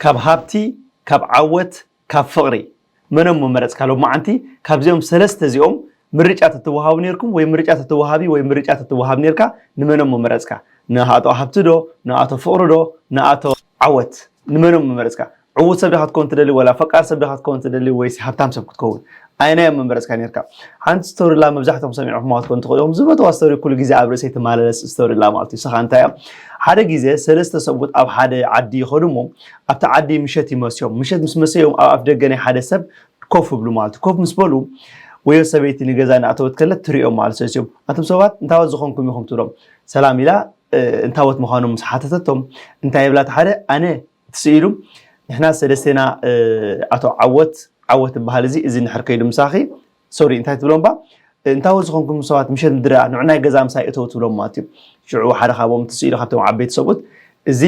ካብ ሃብቲ ካብ ዓወት ካብ ፍቕሪ መኖም ምመረጽካ ሎማዓንቲ ካብዚኦም ሰለስተ እዚኦም ምርጫ ተትወሃቡ ኔርኩም ወይ ምርጫ ተትወሃቢ ወይ ምርጫ ተትወሃብ ኔርካ ንመኖም ምመረጽካ ንኣቶ ሃብቲ ዶ ንኣቶ ፍቕሪ ዶ ንኣቶ ዓወት ንመኖም ምመረጽካ ዕዉት ሰብ ዲኻ ክትከውን ትደሊ ወላ ፈቃር ሰብ ዲኻ ክትከውን ትደሊ ወይስ ሃብታም ሰብ ክትከውን ኣየናይ እዮም ምመረጽካ ኔርካ? ሓንቲ ስቶሪላ መብዛሕትኦም ሰሚዕኩማ ክትኮኑ ትኽእሉ ኢኹም። ዝፈትዋ ስቶሪ ኩሉ ግዜ ኣብ ርእሰይ ትማላለስ ስቶሪላ ማለት እዩ። ንሳ እንታይ እያ? ሓደ ግዜ ሰለስተ ሰብኡት ኣብ ሓደ ዓዲ ይኸዱ እሞ ኣብቲ ዓዲ ምሸት ይመስዮም። ምሸት ምስ መሰዮም ኣብ ኣፍደገ ናይ ሓደ ሰብ ኮፍ ይብሉ ማለት እዩ። ኮፍ ምስ በሉ ወዮ ሰበይቲ ንገዛ እናእተወት ከለት ትርእዮም ማለት ሰስዮም። ኣቱም ሰባት እንታወት ዝኾንኩም ኢኹም ትብሎም። ሰላም ኢላ እንታወት ምዃኖም ምስ ሓተተቶም እንታይ ይብላ እቲ ሓደ ኣነ እቲ ስኢሉ ንሕና ሰለስቴና ኣቶ ዓወት ዓወት ዝበሃል እዚ እዚ ንሕር ከይዱ ምሳኺ ሶሪ እንታይ ትብሎ እምባ እንታወ ዝኾንኩም ሰባት ምሸት ምድረ ንዕናይ ገዛ ምሳይ እተው ትብሎም ማለት እዩ ሽዑ ሓደ ካብኦም እቲ ስኢሉ ካብቶም ዓበይቲ ሰብኡት እዚ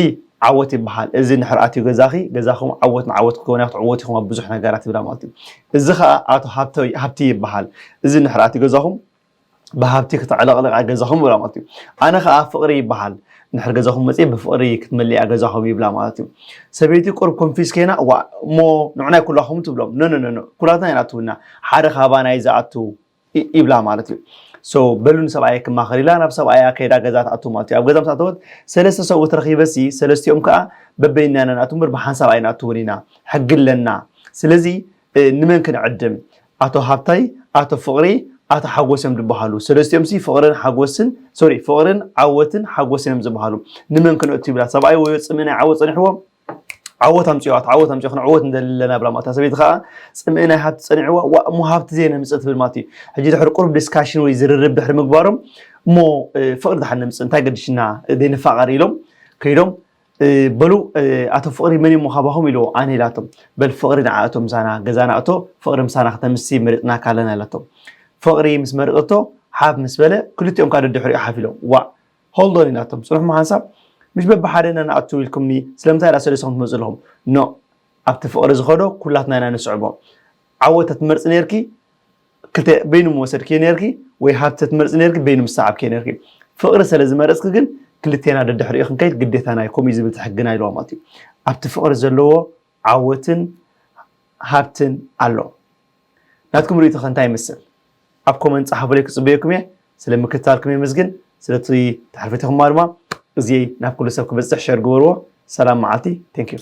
ዓወት ይበሃል እዚ ንሕር ኣትዩ ገዛኺ ገዛኹም ዓወት ንዓወት ክኸውን ክትዕወት ኢኹም ኣብ ብዙሕ ነገራት ይብላ ማለት እዩ እዚ ከዓ ኣቶ ሃብቲ ይበሃል እዚ ንሕር ኣትዩ ገዛኹም ብሃብቲ ክተዕለቕልቓ ገዛኹም ይብላ ማለት እዩ። ኣነ ከኣ ፍቕሪ ይበሃል እንድሕር ገዛኹም መጺኤ ብፍቕሪ ክትመልኣ ገዛኹም ይብላ ማለት እዩ። ሰበይቲ ቁሩብ ኮንፊዝ ከይና ዋእ እሞ ንዑናይ ኩላኹም ትብሎም ኖኖኖኖ ኩላትና ኣይንኣትውና ሓደ ካባና እዩ ዝኣቱ ይብላ ማለት እዩ። ሶ በሉ ንሰብኣየይ ክማኸር ኢላ ናብ ሰብኣያ ከይዳ ገዛ ትኣቱ ማለት እዩ። ኣብ ገዛ ምስ ኣተወት ሰለስተ ሰብኡት ረኺበሲ ሰለስቲኦም ከኣ በበይንና ኢና ንኣቱ እምበር ብሓንሳብ ኣይንኣትውን ኢና ሕጊ ኣለና ስለዚ ንመን ክንዕድም ኣቶ ሃብታይ ኣቶ ፍቅሪ ኣቶ ሓጎስ እዮም ድበሃሉ ሰለስቲኦም ሲ ፍቅርን ሓጎስን ሶሪ ፍቅርን ዓወትን ሓጎስን እዮም ዝብሃሉ ንመን ክነእቱ ይብላ ሰብኣይ ወዮ ጽምእናይ ዓወት ጸኒሕዎ ዓወት ኣምጽኦ ኣቶ ዓወት ኣምጽኦ ክንዕወት ንደሊ ኣለና ብላ ማለት ሰበይቲ ከዓ ጽምእናይ ሃብቲ ጸኒዕዋ ዋ እሞ ሃብቲ ዘይነምጽእ ትብል ማለት እዩ ሕጂ ድሕሪ ቁሩብ ዲስካሽን ወይ ዝርርብ ድሕሪ ምግባሮም እሞ ፍቅሪ ድሓን ነምጽእ እንታይ ገድሽና ዘይንፋቀር ኢሎም ከይዶም በሉ ኣቶ ፍቕሪ መን እዩሞ ካባኹም ኢልዎ ኣነ ኢላቶም በል ፍቕሪ ንዓ እቶ ምሳና ገዛና እቶ ፍቕሪ ምሳና ክተምሲ መሪጽናካ ኣለና ኢላቶ ፍቕሪ ምስ መረጸቶ ሓፍ ምስ በለ ክልቲኦም ካደ ድሕሪኡ ሓፍ ኢሎም ዋእ ሆልዶን ኢላቶም ጽኑሕሞ ሓንሳብ ምሽ በብሓደ ኢና ንኣቱ ኢልኩምኒ ስለምንታይ ደኣ ሰለሰኹም ትመጹ ኣለኹም ኖእ ኣብቲ ፍቕሪ ዝኸዶ ኩላትና ኢና ንስዕቦ ዓወት ተትመርጺ ነርኪ ክልተ በይኑ ምወሰድክዮ ኔርኪ ወይ ሃብቲ ተትመርጺ ኔርኪ በይኑ ምሰዓብክዮ ኔርኪ ፍቅሪ ሰለ ዝመረጽኪ ግን ክልቴና ደድሕሪኡ ክንከይድ ግዴታና እዩ ከምኡ እዩ ዝብል እቲ ሕግና ኢልዋ ማለት እዩ ኣብቲ ፍቅሪ ዘለዎ ዓወትን ሃብትን ኣሎ ናትኩም ርእይቶ ከ እንታይ ይመስል ኣብ ኮመንት ጸሓፉለይ ክጽበየኩም እየ ስለ ምክትታልኩም የመስግን ስለቲ ተሕልፈቲኹማ ድማ እዚይ ናብ ኩሉ ሰብ ክበጽሕ ሸር ግበርዎ ሰላም መዓልቲ ቴንኪው